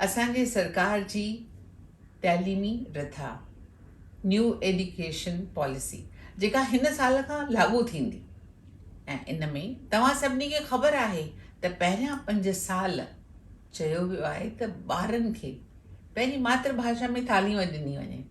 اسان جي سرڪار جي تعليمي رٿا، نيو ايڊيوڪيشن پاليسي، جيڪا هن سال کان لاڳو ٿيندي ۽ ان ۾ توهان سڀني کي خبر آهي ته پهريان پنج سال چيو ويو آهي ته ٻارن کي پنهنجي ماتر ڀاشا ۾ تعليم ڏني وڃي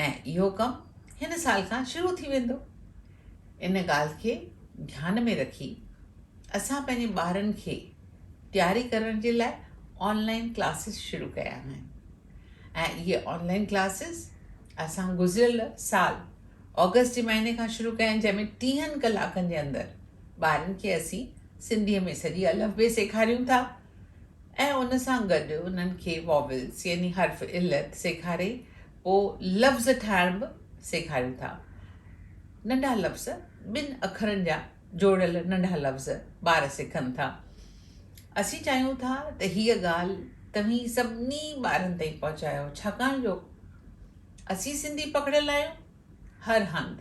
۽ اهو ڪم هن سال کان شروع ٿي ويندو. ان ڳالهه کي ڌيان ۾ رکي اسان پنهنجي ٻارن کي تياري ڪرڻ جي لاء آن لائين ڪلاسز شروع ڪيا آهن ۽ اهي آن لائين ڪلاسز اسان گذريل سال آگسٽ جي مهيني کان شروع ڪيا آهن جنهن ۾ ٽيهن ڪلاڪن جي اندر ٻارن کي اسين سنڌي ۾ سڄي الف بي سيکاريون ٿا ۽ ان سان گڏ انهن کي واويلز يعني حرف علت سيکاري پوء لفظ ٺاهڻ به سيکاريون ٿا ننڍا لفظ ٻن اکرن جا جوڙيل ننڍا لفظ ٻار سکن ٿا. اسين چاهيون ٿا ته هيء ڳالهه توهين سڀني ٻارن تائين پهچايو ڇاڪاڻ جو اسين سنڌي پکڙيل آهيون هر هنڌ،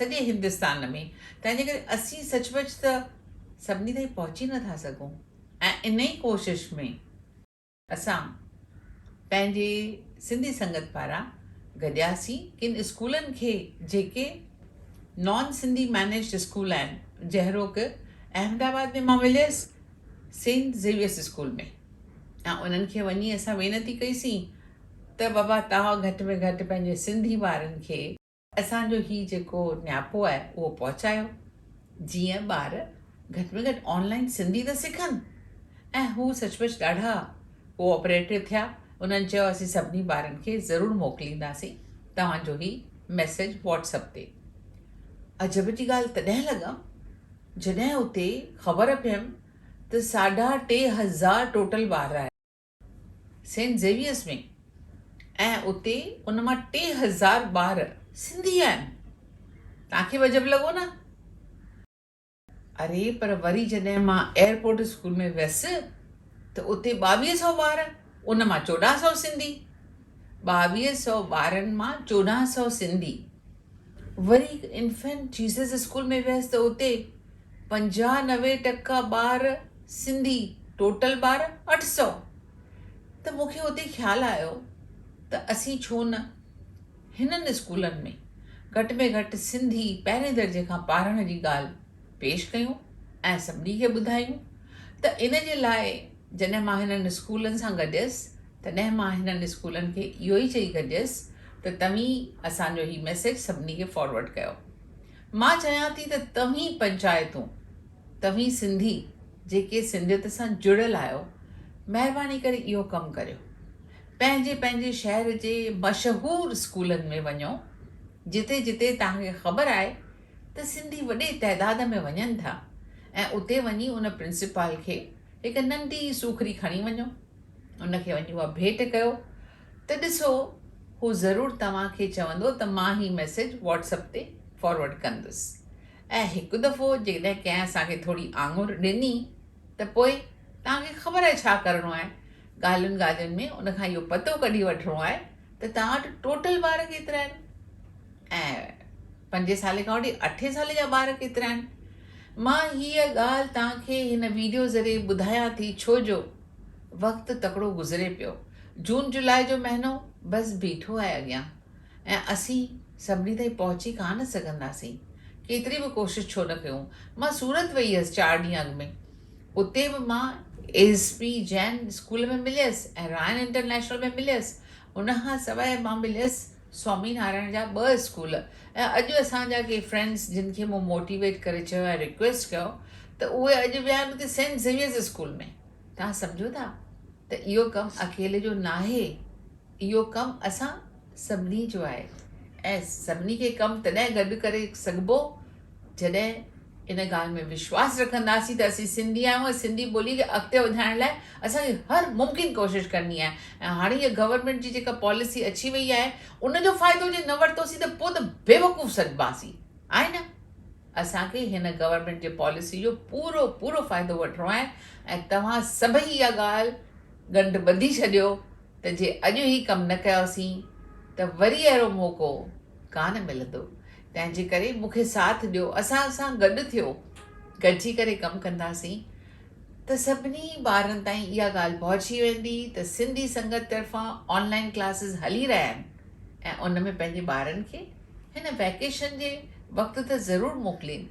سڄي هندستان ۾ تنهن جي ڪري اسين سچ پچ ته سڀني تائين پهچي نه ٿا سگهون ۽ انهي ڪوشش ۾ اسان پنهنجي سنڌي سنگت پاران گڏياسين ڪن اسڪولن کي جيڪي نان سنڌي مينيجڊ اسڪول آهن جهڙوڪ احمد آباد ۾ مان مليس سينٽ زيويئرس اسڪول ۾ ۽ انهن کي وڃي اسان وينتي ڪئي سين ته بابا توهان گهٽ ۾ گهٽ پنهنجي سنڌي ٻارن کي اسان جو هي جيڪو نياپو آهي اهو پهچايو جيئن ٻار گهٽ ۾ گهٽ آن لائين سنڌي ته سکن ۽ هو سچ پچ ڏاڍا ڪو آپريٽو ٿيا انهن چيو اسين سڀني ٻارن کي ضرور موڪلينداسين توهان جو هي ميسيج واٽس اپ تي عجب جي ڳالهه تڏهن لڳم جڏهن اتي خبر پيم ته ساڍا ٽي هزار ٽوٽل ٻار آهن. سينٽ زيويئرز ۾ ۽ اتي ان مان ٽي هزار ٻار سنڌي آهن. توهان کي به عجب لڳو نه؟ اري پر وري جڏهن مان ايئرپورٽ اسڪول ۾ ويس ته اتي ٻاويهه سئو ٻار ان مان چوڏهن سئو سنڌي. ٻاويهه سئو ٻارن مان چوڏهن سئو سنڌي. وري انفينٽ جيسس اسڪول ۾ ويس ته اتي پنجاهه نوي ٽڪا ٻار سنڌي ٽوٽل ٻار اٺ سؤ ته مون کي اتي خيال آيو ته اسين ڇو نه هنن اسڪولن ۾ گهٽ ۾ گهٽ سنڌي پهرين درجي کان پارڻ جي ڳالهه پيش ڪيون ۽ سڀني کي ٻڌايون ته ان جي لاء جڏهن مان هنن اسڪولن سان گڏيس تڏهن مان هنن اسڪولن کي اهو ئي چئي گڏيس ته توهين اسان جو هي ميسيج سڀني کي فارورڊ ڪيو. مان چاهيان ٿي ته توهين پنچائتون، توهين سنڌي جيڪي سنڌيت سان جڙيل آهيو مهرباني ڪري اهو ڪم ڪريو. پنهنجي پنهنجي شهر جي مشهور اسڪولن ۾ وڃو جتي جتي توهان کي خبر آهي ته سنڌي وڏي تعداد ۾ وڃن ٿا ۽ اتي وڃي ان پرنسپال کي هڪ ننڍي سوکڙي کڻي وڃو. ان کي وڃي اها ڀيٽ ڪيو ته ڏسو هو ضرور توهان کي چوندو ته مان هي ميسيج واٽس اپ تي فارورڊ ڪندس ۽ هڪ دفعو جيڪڏهن ڪنهن اسان کي ٿوري آڱر ڏني ته پوء توهان کي خبر آهي ڇا ڪرڻو آهي ڳالهين ڳالهين ۾ ان کان اهو پتو ڪڍي وٺڻو آهي ته توهان وٽ ٽوٽل ٻار ڪيترا آهن ۽ پنجين سالين کان وٺي اٺين سالين جا ٻار ڪيترا آهن مان هيء ڳالهه توهان کي هن ويڊيو ذريعي ٻڌايان ٿي ڇو جو وقت تڪڙو گذري پيو. جون جولاء جو مهينو بس بيٺو آهي اڳيان ۽ اسين سڀني تائين پهچي ڪا نه سگهنداسين. ڪيتري به ڪوشش ڇو نه ڪيون. مان سورت وئي هيس چار ڏينهن اڳ ۾. اتي به مان ايس پي جين اسڪول ۾ مليس ۽ رائن انٽرنيشنل ۾ مليس. ان کان سواء مان مليس. سوامي نارائڻ جا ٻه اسڪول ۽ اڄ اسان جا ڪي فرينڊس جن کي مون موٽيويٽ ڪري چيو ۽ ريڪويسٽ ڪيو ته اهي اڄ ويا آهن اتي سينٽ زيويئرز اسڪول ۾ توهان سمجهو ٿا ته اهو ڪم اڪيلي جو ناهي اهو ڪم اسان سڀني جو آهي ۽ سڀني کي ڪم تڏهن گڏ ڪري سگهبو جڏهن ان ڳالهه ۾ وشواس رکنداسين ته اسين سنڌي آهيون ۽ سنڌي ٻولي کي اڳتي وڌائڻ لاء اسان کي هر ممڪن ڪوشش ڪرڻي آهي ۽ هاڻي اها گورنمينٽ جي جيڪا پاليسي اچي وئي آهي ان جو فائدو جي نه ورتوسين ته پوء ته بيوقوف سڏباسين آهي نه اسان کي هن گورنمينٽ جي پاليسي جو پورو پورو فائدو وٺڻو آهي ۽ توهان سڀئي اها ڳالهه ڳنڍ ٻڌي ڇڏيو ته جي اڄ هي ڪم نه ڪياسين ته وري اهڙو موقعو ڪانه ملندو تنهنجي ڪري مون کي ساٿ ڏيو اسان سان گڏ ٿيو گڏجي ڪري ڪم ڪنداسين ته سڀني ٻارن تائين اها ڳالهه پهچي ويندي ته سنڌي سنگت طرفان آن لائن ڪلاسز هلي رهيا آهن ۽ ان ۾ پنهنجي ٻارن کي هن ويڪيشن جي وقت ته ضرور موڪلين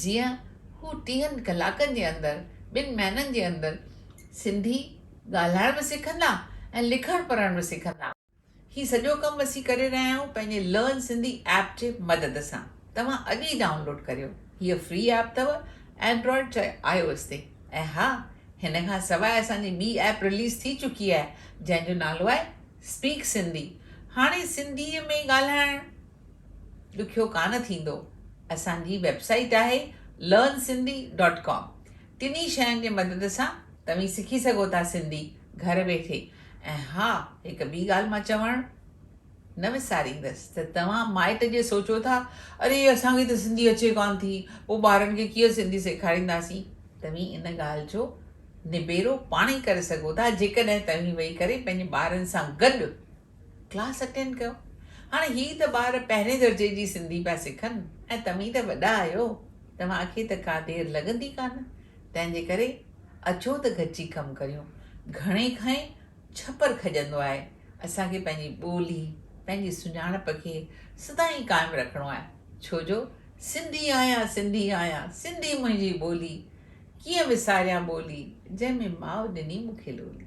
جيئن هو ٽيهن ڪلاڪن جي اندر ٻن مهينن جي اندر سنڌي ڳالهائڻ به سکندا ۽ لکڻ پڙهڻ به سکندا. هي سڄو ڪم اسين ڪري رهيا آهيون پنهنجي لرن سنڌي ايپ جي مدد سان توهان اڄ ئي ڊائونلوڊ ڪريو هيء فري ايپ اٿو اينڊرائيڊ چاهي آء او ايس تي ۽ ها هن کان سواء اسان جي ٻي ايپ رليز ٿي چڪي آهي جنهن جو نالو آهي اسپيڪ سنڌي هاڻي سنڌي ۾ ئي ڳالهائڻ ڏکيو ڪانه ٿيندو اسان جي ويب سائيٽ آهي لرن سنڌي ڊاٽ ڪام ٽنهي شين جي مدد سان توهين سکي سگهو ٿا سنڌي گهر ويٺي ۽ ها هڪ ٻي ڳالهه مان چوڻ نه وساريندس ته توهان مائٽ جي سوچو ٿا اري اسان کي ته سنڌي اچي ڪانه ٿي پوء ٻارن کي ڪيئن سنڌي سيکارينداسين توهين ان ڳالهه جو نبيرو پاڻهي ڪري سگهو ٿا جيڪڏهن توهين ويهي ڪري پنهنجي ٻارن سان گڏ ڪلاس اٽينڊ ڪيو. هاڻ هي ته ٻار پهرين درجي جي سنڌي پيا سکن ۽ توهين ته وڏا آهيو، توهان کي ته ڪا دير لڳندي ڪانه، تنهن جي ڪري اچو ته گڏجي ڪم ڪريون. گهڻي کانئن ڇپر کڄندو آهي. اسان کي پنهنجي ٻولي، پنهنجي سڃاڻپ کي سدائين قائم رکڻو آهي، ڇو جو سنڌي آهيان، سنڌي آهيان، سنڌي منهنجي ٻولي، ڪيئن وساريان ٻولي، جنهن ۾ ماء ڏني مون کي لولي.